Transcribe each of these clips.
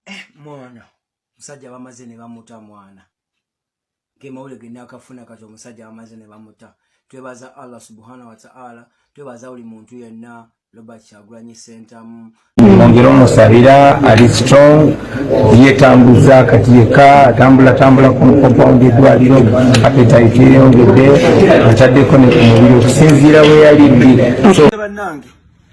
eh, mwana musajja bamaze ne bamuta mwana kemawule genda akafuna kati omusajja bamaze ne bamuta twebaza allah subhanahu wataala twebaza buli muntu yenna robert kyagulanyi sentamu mwongere omusabira ali strong yetambuza kati yeka atambula tambula ku compound edwaliro apetite yeyongedde ataddeko ne ku mubiri okusinziira weyali bbi so,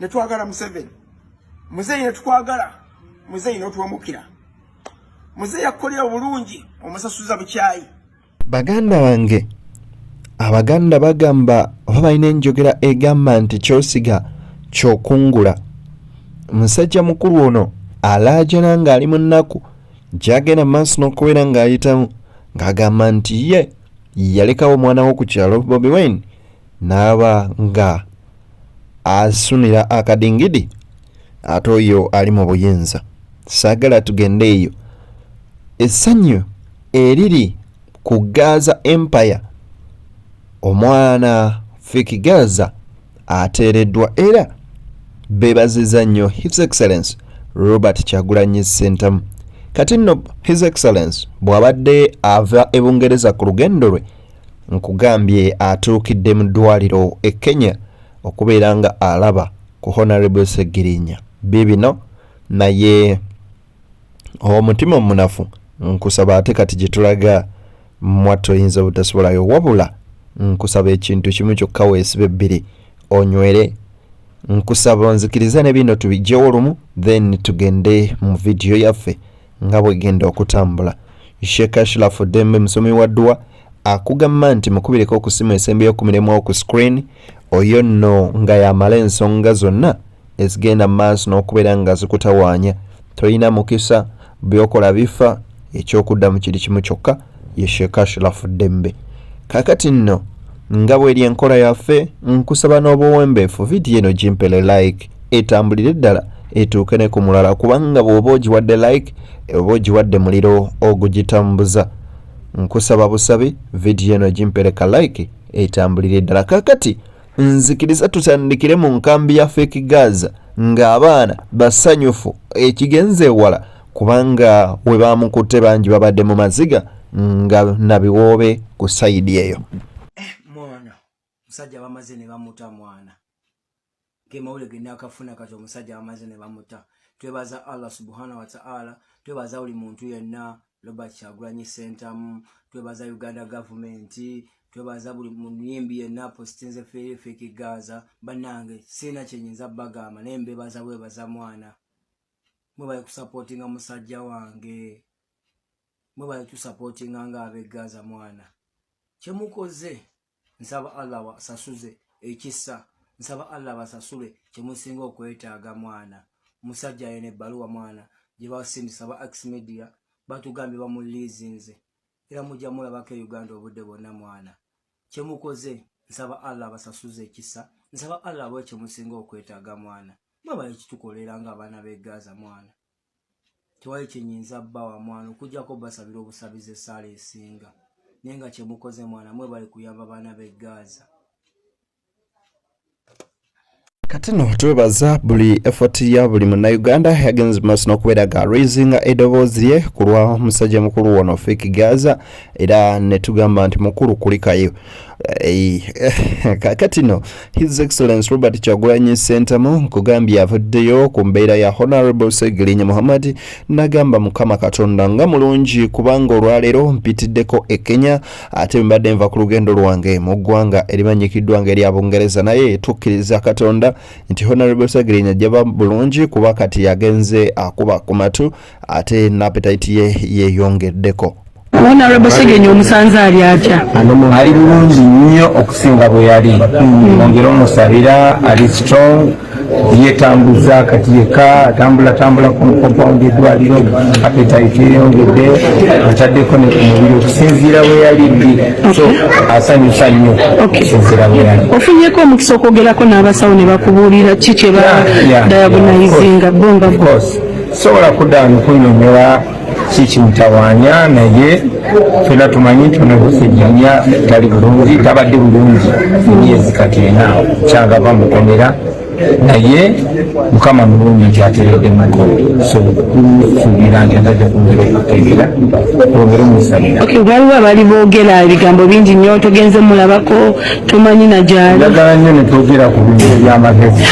netwagala museveni muzeeyi netukwagala muzeeyi notuwemukira muzeeyi akukolera obulungi omusasuza bukyayi baganda bange abaganda bagamba oba balina enjogera egamba nti kyosiga kyokungula musajja mukulu ono alaajana ng'ali mu nnaku gyagenda mu maaso n'okubeera ng'ayitamu ng'agamba nti ye yalekawo omwana wo ku kyalo bobi wine n'aba nga asumira akadingidi ate oyo ali mu buyinza saagala tugende eyo essanyu eriri ku gaza empire omwana fiki gaza ateereddwa era bebaziza nnyo his excellence robert kyagulanyi sentamu kati nno his excellence bw'abadde ava ebungereza ku lugendo lwe nkugambye atuukidde mu ddwaliro e kenya okubeera nga alaba ku honarable segirinya bibino naye omutima omunafu nkusaba ate kati gyetulaga mwattu oyinza obutasubolayo wabula nkusaba ekintu kimu kyokka weesibe bbiri onywere nkusaba onzikirize ne bino tubijjewo lumu then tugende mu vidiyo yaffe nga bwegenda okutambula sheikh ashraf dembe musomi wa dduwa akugamba nti mukubireko okusima esembeyo ku mirimu oku screen oyo nno nga yamala ensonga zonna ezigenda mu maaso n'okubeera nga zikutawaanya tolina mukisa byokola bifa ekyokuddamu kiri kimu kyokka ye sheikh ashraf dembe kakati nno nga bweri enkola yaffe nkusaba n'obuwembeefu vidiyo eno gimpele like etambulire ddala etuuke ne ku mulala kubanga bw'oba ogiwadde like oba ogiwadde muliro ogugitambuza nkusaba busabi vidiyo eno gimpereka like etambulire ddala kakati nzikiriza tutandikire mu nkambi ya fake gaza ng'abaana basanyufu ekigenze ewala kubanga we baamukutte bangi babadde mu maziga nga nabiwoobe ku sayidi eyo eh, mwana musajja bamaze ne bamuta mwana kemawule genakafuna kati omusajja bamaze ne bamuta twebaza allah subhana wataala twebaza buli muntu yenna robert kyagulanyi sentamu twebaza uganda gavumenti twebaza buli muyimbi yenna positinze feefekigaza banange siina kyenyinza bagamba naye mbebaza bwebaza mwana mwebale kusapotinga musajja wange mwebale tusapotinga nga abegaza mwana kyemukoze nsaba allah wasasuze ekisa nsaba allah basasule kyemusinga okwetaaga mwana musajja yene ebbaluwa mwana gyebasindisa ba ax media batugambye bamuliizinze era mujja mulabako e uganda obudde bwonna mwana kyemukoze nsaba allah abasasuze ekisa nsaba allah abawe kyemusinga okwetaaga mwana mwebale kitukolera nga abaana begaza mwana tewali kyenyinza bba wa mwana okujjako basabira obusabizi esaala esinga naye nga kyemukoze mwana mwebale kuyamba baana begaza kati no twebaza buli effort ya buli munnayuganda yagenze maaso n'okubeera ga raisinga edoboozi lye ku lwa musajja mukulu wono fik gaza era ne tugamba nti mukulu kulikayo eh, kakati no his excellence robert kyagulanyi sentamu nkugambye avuddeyo ku mbeera ya honorable segirinya muhammad nagamba mukama katonda nga mulungi kubanga olwaleero mpitiddeko e kenya ate mbadde nva ku lugendo lwange mu ggwanga erimanyikiddwa nga erya bungereza naye tukkiriza katonda nti honorable segirinya ajjaba bulungi kuba kati yagenze akuba ku matu ate napetayiti ye yeeyongeddeko honorable segenya omusanze ali atya ali bulungi nnyo okusinga bwe yali ongere omusabira ali strong yetambuza kati yeka atambula tambula ku compound edwaliro apetite eyongedde ataddeko ne ku mubiri okusinziira we yali ddi so asanyusa nnyo okusinziira we yali ofunyeko omukisa okwogerako n'abasawo ne bakubuulira ki kye ba diagonizinga bo nga sobola kudda nkunyonyola kikimutawanya naye fena tumanyi nti onabusenyanya tali bulungi tabadde bulungi emyezi kati ena kyagava mukomera naye mukama mulungi nti ateredde muko sosuubira nti ataja kumira okutegera olwongere omusalira waliwo abali boogera ebigambo bingi nnyo togenze mulabako tomanyi najali njagala nnyo netwogera ku bintu ebyamagezi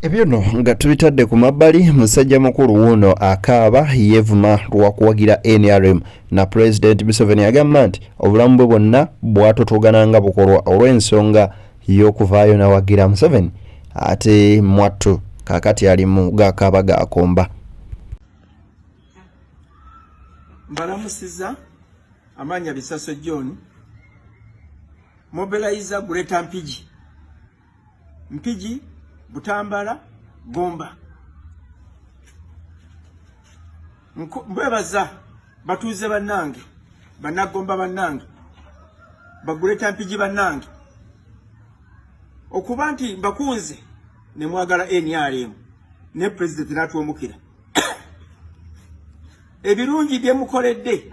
Ebyo no nga tubitadde ku mabbali musajja mukulu wuuno akaaba yeevuma lwakuwagira nrm na pulezidenti museveni agamba nti obulamu bwe bwonna bwatotogana nga bukolwa olw'ensonga y'okuvaayo nawagira museveni ate mwattu kakati ali mu gakaaba gakomba mbalamusiza amaanya bisaso john mobilizer greater mpigi Mpigi, Butambala, Gomba. Mbwebaza batuuze bannange, bannagomba bannange, baguleta Mpigi bannange. Okuba nti mbakunze ne mwagala NRM ne president n'atuwemukira. Ebirungi bye mukoledde.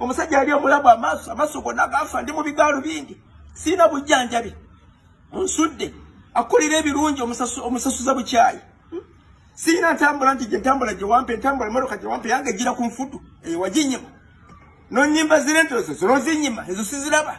omusajja yali omulabu amaaso amaaso gonna gaafa ndi mu bigaalu bingi sirina bujjanjabi nsudde akulira ebirungi omusasuza bukyayi hmm? sirina ntambula nti gyentambula gyewampa entambula emotoka gyewampa yange ejjira ku nfudu eyo waginyima nonyimba zirente ezo zinozinyima ezo siziraba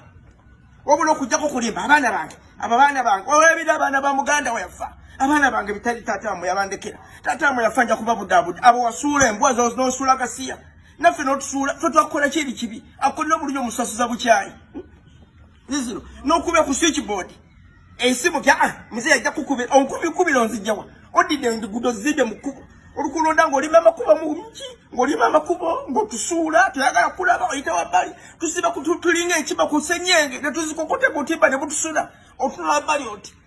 wabula okujjako kulimba abaana bange abo abaana bange olwebira abaana ba muganda weyafa abaana bange bitali taata wamwe yabandekera taata wamwe yafa nja kubabudaabuda abo wasuula embwa zonosula gasiya naffe notusuula fe twakukola ki eri kibi akolera obulungi omusasuza bukyayi zizino nokuba ku switchboard esimu kya ah, mzee ajja kukubira onkubikubira onzijawa odidde engudo zidde mu kkubo olukulonda ng'olima amakubo mungi ng'olima amakubo ng'otusuula toyagala kulaba oyita wabbali tusiba tulinga enkima ku senyenge ne tuzikokotega otimba ne butusula otunula wabbali oti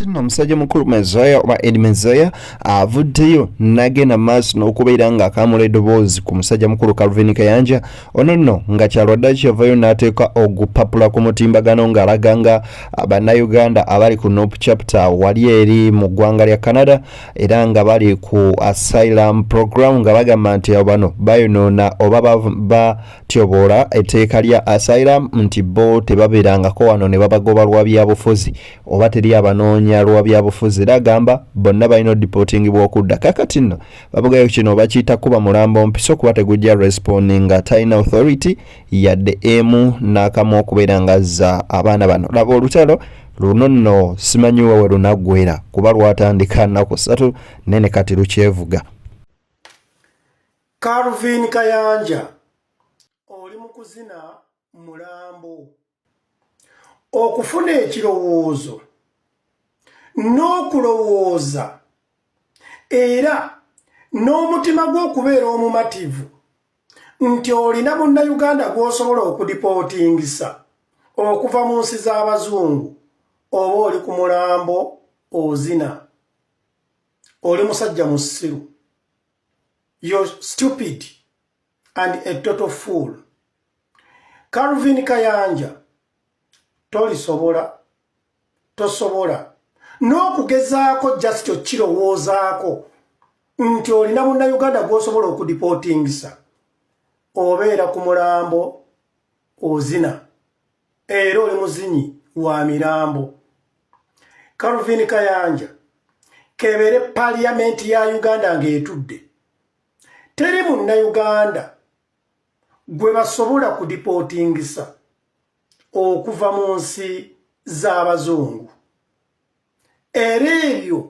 Tino omusajja mukulu Mezaya oba Ed Mezaya avuddeyo nagenda maaso n'okubeera nga akamula edoboozi ku musajja mukulu Calvin Kayanja ono nno nga kyalwadde kyavayo n'ateeka ogupapula ku mutimbagano ng'alaga nga bannayuganda abali ku Nop chapter wali eri mu ggwanga lya Canada era nga bali ku asylum program nga bagamba nti bano bayonoona oba batyoboola etteeka lya asylum nti bo tebabeerangako wano ne babagoba lwa byabufuzi oba teri abanoonya lwa byabufuzi era agamba bonna balina odipotingibwa okudda kakati nno babugayo kino bakiyita kuba mulambo mpiso kuba tegujja responding nga talina authority yadde emu n'akamu okubeera nga azza abaana bano laba olutalo luno nno simanyi wewe lunaggwera kuba lwatandika nnaku satu naye ne kati lukyevuga calvin kayanja oli mu kuzina mulambo okufuna ekirowoozo n'okulowooza era n'omutima gw'okubeera omumativu nti olina munnayuganda gw'osobola okudipootingisa okuva mu nsi z'abazungu oba oli ku mulambo ozina oli musajja musiru yo stupid and a total fool calvin kayanja tolisobola tosobola n'okugezaako just okukirowoozaako nti olina munnayuganda gwosobola okudipotingisa obeera ku mulambo ozina era oli muzinyi wa mirambo calvin kayanja kebere paliyamenti ya uganda ng'etudde teri munnayuganda gwe basobola kudipotingisa okuva mu nsi z'abazungu era ebyo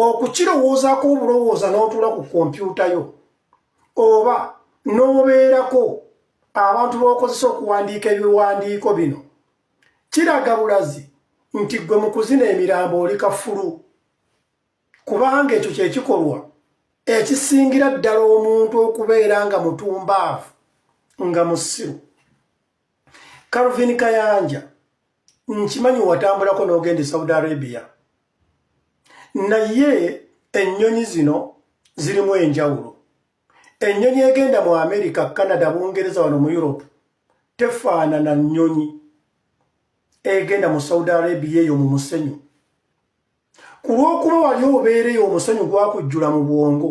okukirowoozaako obulowooza n'otuula ku kompyuta yo oba n'obeerako abantu b'okozesa okuwandiika ebiwandiiko bino kiraga bulazi nti gwe mu kuzina emirambo oli kafulu kubanga ekyo kyekikolwa ekisingira ddala omuntu okubeera nga mutumbaavu nga musiru calvin kayanja nkimanyi watambulako n'ogenda e saudi arabia naye ennyonyi zino zirimu enjawulo ennyonyi egenda mu amerika canada bungereza wano mu europe tefaanana nnyonyi egenda mu saudi arabia eyo mu musenyu ku lw'okuba wali obeereyo omusonyi gwakujjula mu bwongo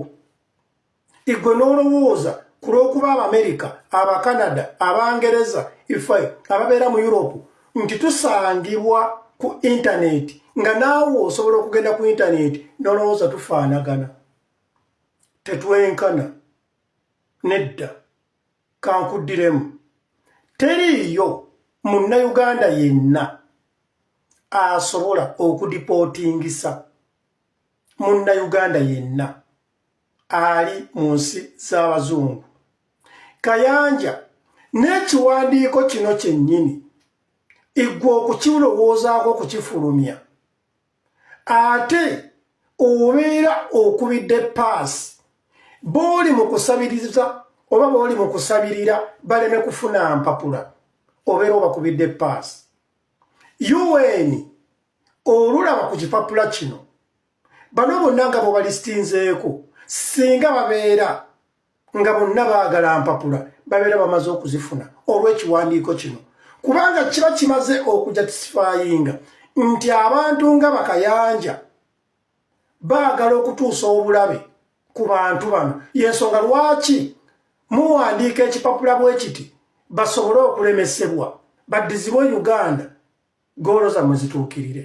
igwe n'olowooza ku lw'okuba abamerika abakanada abangereza ife ababeera mu europe nti tusangibwa ku intaneti nga naawe osobola okugenda ku intaneti n'olowooza tufaanagana tetwenkana nedda kankuddiremu teriiyo munnayuganda yenna asobola okudipootingisa munnayuganda yenna ali mu nsi z'abazungu kayanja n'ekiwandiiko kino kyennyini iggwe okukirowoozaako okukifulumya ate obeera okubidde paasi booli mu kusabiriza oba booli mu kusabirira baleme kufuna mpapula obeera obakubidde paasi un olulaba ku kipapula kino bano bonna nga bobalistinzeeko singa babeera nga bonna baagala mpapula babeera bamaze okuzifuna olw'ekiwandiiko kino kubanga kiba kimaze okujatisifayinga nti abantu nga bakayanja baagala okutuusa obulabe ku bantu bano yensonga lwaki muwandiika ekipapula bwe kiti basobole okulemesebwa baddizibwe uganda goolo zamwe zituukirire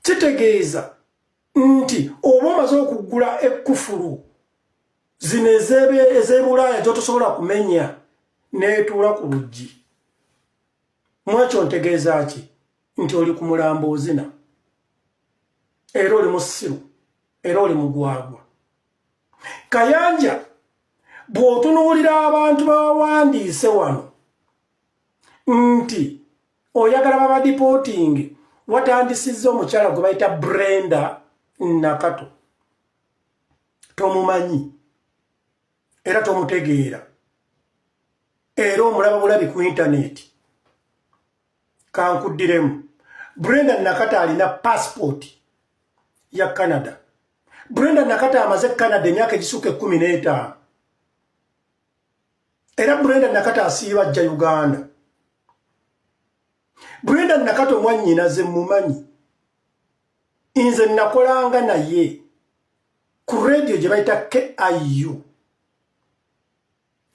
kitegeeza nti oba omaze okugula ekkufulu zino ez'ebulaaya gyotosobola kumenya neetuula ku luggi mwekyo ntegeeza ki nti oli ku mulambo ozina era oli musiru era oli mugwagwa kayanja bw'otunuulira abantu bawandiise wano nti oyagala babadipotinge watandisizza omukyala gwe bayita brenda nakato tomumanyi era tomutegeera era omulaba bulabi ku intaneti kankuddiremu brenda nakato alina pasipooti ya canada brenda nakato amaze canada emyaka egisuuka ekkumi n'etaano era brenda nakata asiiba ajja uganda brenda nakata omwanyinaze mumanyi nze nakolanga naye ku radio gye bayita kiu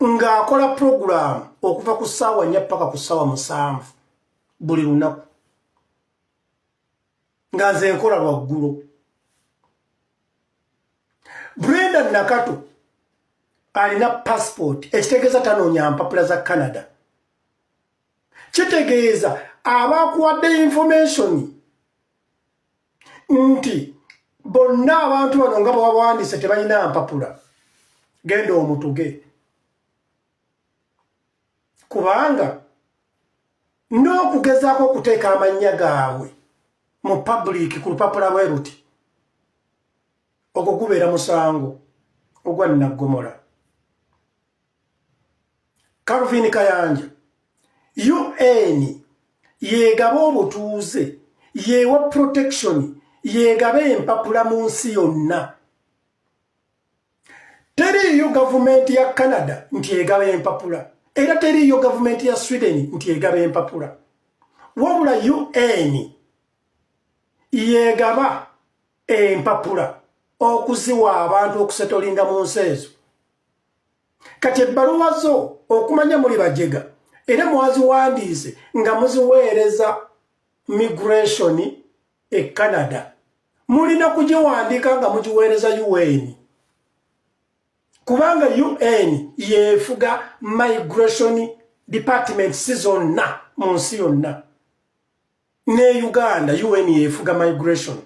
ng'akola puroguramu okuva ku ssaawa nnya paka ku ssaawa musanvu buli lunaku nga nze nkola lwaggulo brenda nakato alina passport ekitegeeza tanoonya mpapula za canada kitegeeza abakuwadde information nti bonna abantu bano nga bwewawandise tebalina mpapula genda omutuge kubanga n'okugezaako okuteeka amannya gaabwe mu public ku lupapula bwe luti ogwo gubeera musango ogwa nnaggomola calvin kayanja un yeegaba obutuuze yeewa protection yeegaba empapula mu nsi yonna teriiyo gavumenti ya canada nti egaba empapula era teriiyo gavumenti ya sweden nti egaba empapula wabula un yegaba empapula okuziwa abantu okusetolinga mu nsi ezo kati ebbaluwa zo okumanya muli bajega era mwaziwandiise nga muziweereza migration e canada mulina kugiwandiika nga mugiweereza un kubanga un yefuga migration department si zonna mu nsi yonna ne uganda un yefuga migration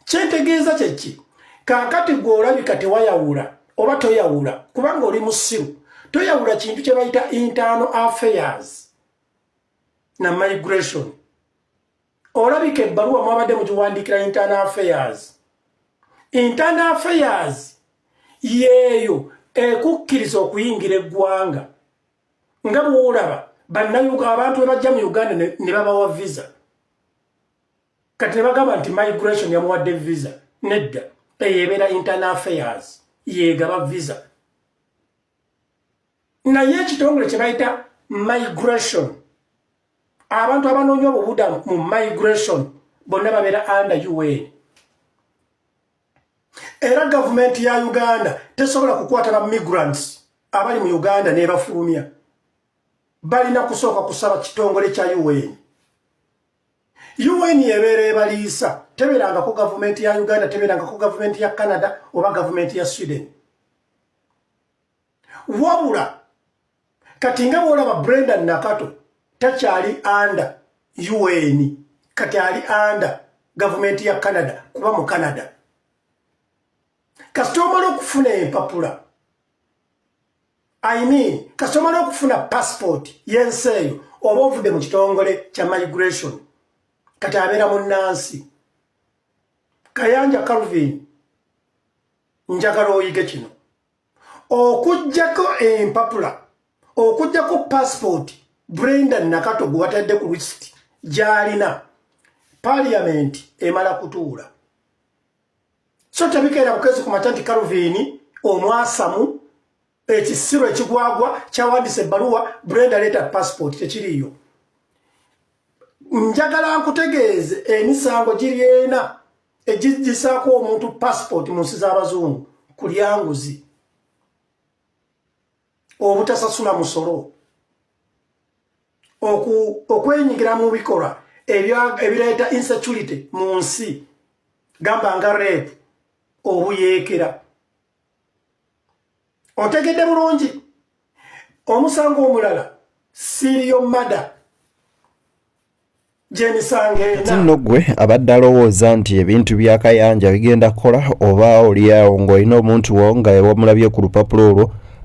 kyentegeeza kyekki kakati gwe olabika tewayawula oba toyawula kubanga oli musiru toyawula kintu kyebayita internal affairs na migration olabika ebbaluwa mwabadde mugiwandiikira internal affairs internal affairs yeeyo ekukkiriza okuyingira eggwanga nga bwolaba abantu bebajja mu uganda ne babawa visa kati nebagamba nti migration yamuwadde visa nedda eyo ebeera internal affairs yegaba visa naye ekitongole kyebayita migration abantu abanoonya obubudamu mu migration bonna babeera under un era gavumenti ya uganda tesobola kukwata ba migrants abali mu uganda nebafulumya balina kusooka kusaba kitongole kya un un ebeera ebaliisa teberangako gavumenti ya uganda teberangako gavumenti ya canada oba gavumenti ya sweden wabula kati nga bwolaba brenda nakato takyali anda un kati ali anda gavumenti ya canada kuba mu canada kasita omala okufuna empapula i mean kasita omala okufuna passport yensi eyo oba ovudde mu kitongole kya migration kati abeera mu nansi kayanja calvin njagala oyige kino okujjako empapula okujjako passport brenda nakato gwe batadde ku list gyalina parliament emala kutuula so tebikeera bukezi ku mata nti calvin omwasamu ekisiru ekigwagwa kyawandisa ebbaluwa brenda leeta passport tekiriyo njagala nkutegeeze emisango giri ena egigisaako omuntu passport mu nsi z'abazungu ku lyanguzi obutasasula musolo okwenyigira mu bikolwa ebireeta insecurity mu nsi gamba nga reepu obuyeekera otegedde bulungi omusango omulala siriyo mada kati nno ggwe abadde alowooza nti ebintu bya kayanja bigenda kukola oba olyawo ng'olina omuntu wo nga wamulabye ku lupapula olwo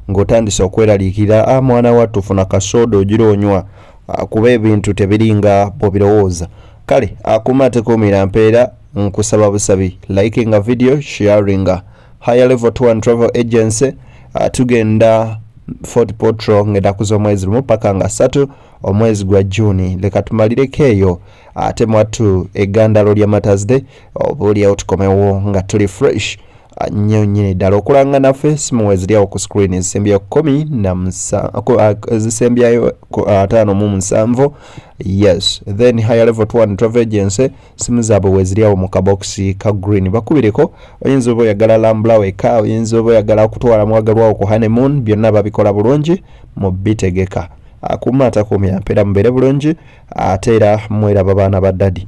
ng'otandise okweraliikira a ah, mwana wattu funa kasooda ogira onywa ah, kuba ebintu tebiringa bwebirowooza kale akuuma tekuumira mpeera nkusaba busabi likinga video sharinga higher level tour and travel agency uh, tugenda fort potro ng'ennaku z'omwezi lumu paka nga ssatu omwezi gwa juuni leka tumalireko eyo ate mwattu egandalo lya matasde oba olyawo tukomewo nga tuli fresh uh, nnyo nyini ddala okulanga naffe simu weziryawo ku screen ezisembya kumi nazisembyayo uh, uh, ataano mu musanvu yes then higher level tour and travel agency simu zaabwe weziri awo mu kabokisi ka green bakubireko oyinza oba oyagala lambula weka oyinza oba oyagala okutwala mwagalwawo ku honeymoon byonna babikola bulungi mu bitegeka akuuma atakuumya mpeera mubeere bulungi ate era mweraba baana ba dadi